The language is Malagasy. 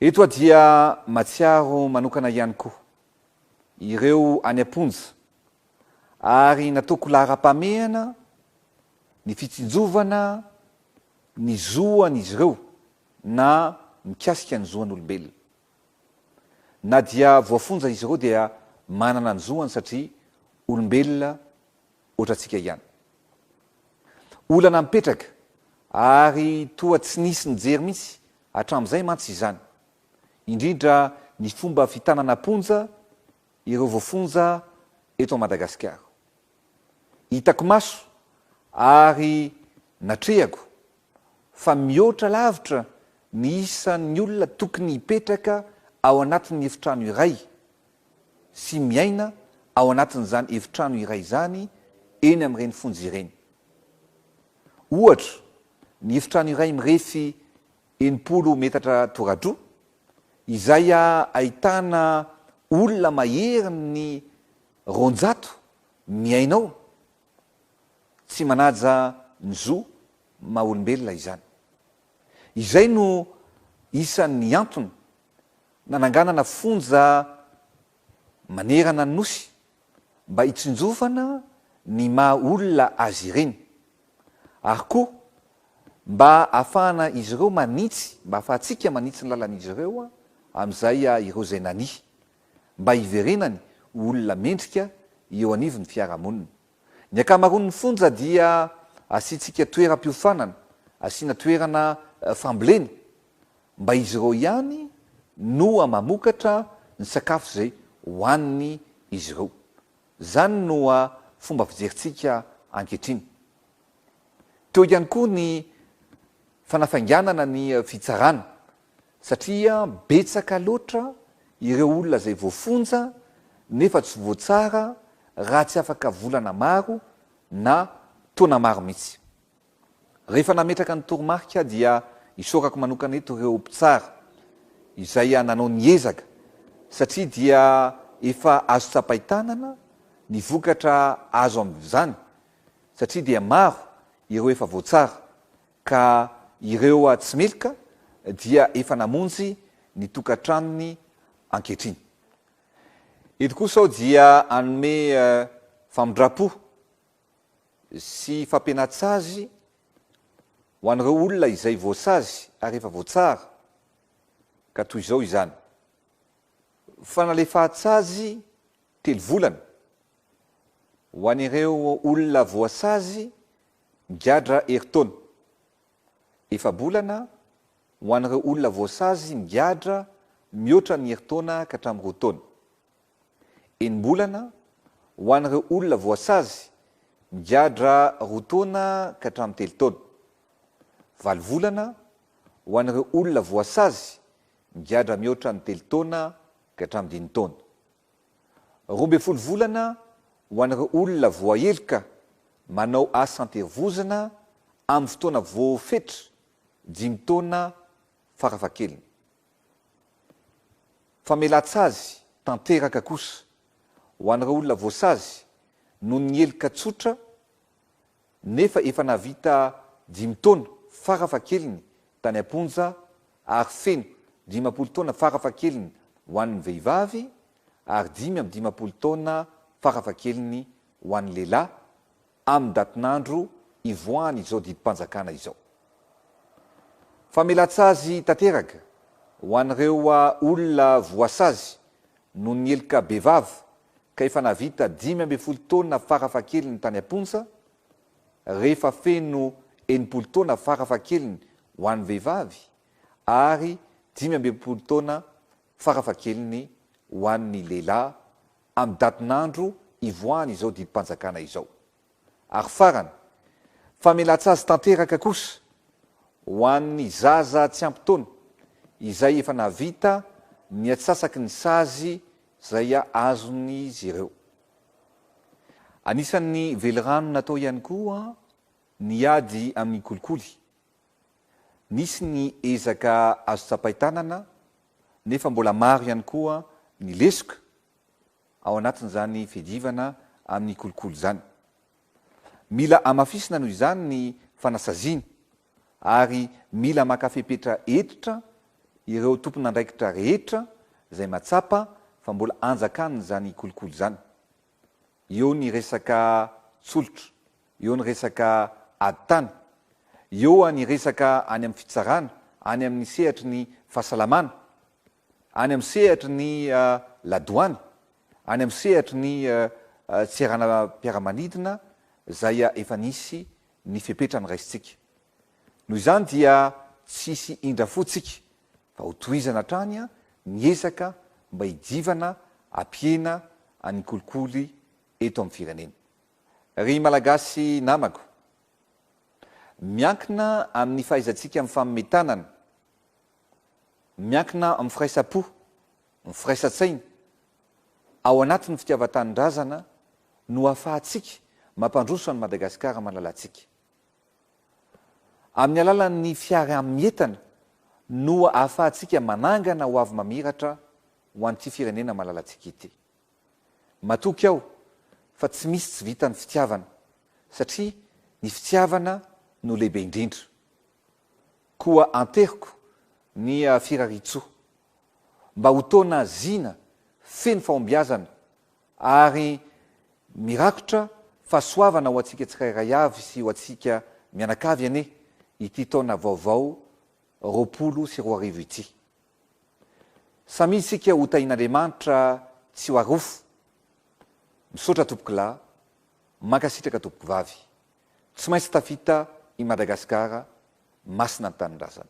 Eto aho dia matsiaro manokana ihany koa ireo any am-ponja ary nataoko laharam-pahamehana ny fitsinjovana ny zoan'izy ireo na mikasika ny zoan'olombelona. Na dia voafonja izy ireo dia manana ny zoany satria olombelona ohatrantsika ihany. Olana mipetraka ary toa tsy nisy nijery mihitsy Hatramin'izay mantsy izany, indrindra ny fomba fitanana am-ponja ireo voafonja eto Madagasikara. Hitako maso ary natrehako fa mihoatra lavitra ny isan'ny olona tokony hipetraka ao anatin'ny efitrano iray sy miaina ao anatin'izany efitrano iray izany eny amin'ireny fonja ireny. Ohatra, ny efitrano iray mirefy enimpolo metatra toradroa, izay ahitana olona maherin'ny roanjato miaina ao, tsy manaja ny zo maha olombelona izany. Izay no isan'ny antony nananganana fonja manerana ny Nosy mba hitsinjovana ny maha olona azy ireny ary koa mba hahafahana izy ireo manitsy, mba hahafahantsika manitsy ny lalan'izy ireo amin'izay ireo izay nania, mba hiverenany ho olona mendrika eo anivon'ny fiarahamonina. Ny ankamaroan'ny fonja dia asiantsika toeram-piofanana, asiana toerana fambolena Mba izy ireo ihany noa mamokatra ny sakafo izay hohaniny izy ireo. Izany noa fomba fijerintsika ankehitriny. Teo ihany koa ny fanafainganana ny fitsarana satria betsaka loatra ireo olona izay voafonja nefa tsy voatsara raha tsy afaka volana maro na taona maro mihitsy. Rehefa nametraka ny toromarika aho dia isaorako manokana eto ireo mpitsara izay nanao ny ezaka satria dia efa azo tsapain-tanana ny vokatra azo amin'izany satria dia maro ireo efa voatsara ka ireo tsy meloka dia efa namonjy ny tokantranony ankehitriny. Eto kosa aho dia hanome famindram-po sy fampiana-tsazy ho an'ireo olona izay voasazy ary efa voatsara, ka toy izao izany, Fanalefahan-tsazy telo volana ho an'ireo olona voasazy migadra herintaona, efa-bolana ho an'ireo olona voasazy migadra mihoatra ny herintaona ka hatramin'ny roa taona. enim-bolana ho an'ireo olona voasazy migadra roa taona ka hatramin'ny telo taona, valo volana ho an'ireo olona voasazy migadra mihoatra ny telo taona ka hatramin'ny dimy taona, roa ambin'ny folo volana ho an'ireo olona voaheloka manao asa an-terivozona amin'ny fotoana voafetra, dimy taona farafahakeliny. Famelan-tsazy tanteraka kosa ho an'ireo olona voasazy noho ny heloka tsotra nefa efa nahavita dimy taona farafahakeliny tany am-ponja ary feno dimampolo taona farafahakeliny ho an'ny vehivavy ary dimy amby dimampolo taona farafahakeliny ho an'ny lehilahy amin'ny datin'andro ivoahan'izao didim-panjakana izao. Famelan-tsazy tanteraka ho an'ireo olona voasazy noho ny heloka bevava ka efa nahavita dimy ambin'ny folo taona farafahakeliny tany am-ponja, rehefa feno enimpolo taona farafahakeliny ho an'ny vehivavy ary dimy amby enimpolo taona farafahakeliny ho an'ny lehilahy amin'ny datin'andro ivoahany izao didim-panjakana izao. Ary farany, famelan-tsazy tanteraka kosa ho an'ny zaza tsy ampy taona izay efa nahavita ny atsasaky ny sazy izay azon'izy ireo. Anisan'ny velirano natao ihany koa ny ady amin'ny kolikoly. Nisy ny ezaka azo tsapain-tanana nefa mbola maro ihany koa ny lesoka ao anatin'izany fiadivana amin'ny kolikoly izany. Mila hamafisina noho izany ny fanasaziana ary mila maka fepetra hentitra ireo tompon'andraikitra rehetra izay matsapa fa mbola anjakan'izany kolikoly izany. eo ny resaka tsolotra, eo ny resaka ady tany, eo ny resaka any amin'ny fitsarana, any amin'ny sehatry ny fahasalamana, any amin'ny sehatry ny ladoany, any amin'ny sehatry ny seranam-piaramanidina izay efa nisy ny fepetra noraisintsika. Noho izany dia tsy hisy indra fo tsika fa ho tohizana hatrany ny ezaka mba hijivana hampihena any kolikoly eto amin'ny firenena. Ry Malagasy namako, miankina amin'ny fahaizantsika mifamehy tanana, miankina amin'ny firaisam-po, ny firaisan-tsaina, ao anatin'ny fitiavan-tanindrazana no ahafahantsika mampandroso an'i Madagasikara malalantsika. Amin'ny alalan'ny fiaraha-mientana no ahafahantsika manangana hoavy mamiratra ho an'ity firenena malalantsika ity. Matoky aho fa tsy misy tsy vitan'ny fitiavana satria ny fitiavana no lehibe indrindra. Koa anteriko ny firariantsoa mba ho taona zina feno fahombiazana Ary mirakotra fahasoavana ho antsika tsirairay avy sy ho antsika mianakavy anie ity taona vaovao roapolo sy roa arivo ity. Samia isika ho tahin'Andriamanitra tsy ho arofo. Misaotra tompokolahy, mankasitraka tompokovavy. Tsy maintsy tafita i Madagasikara masina ny tanindrazana.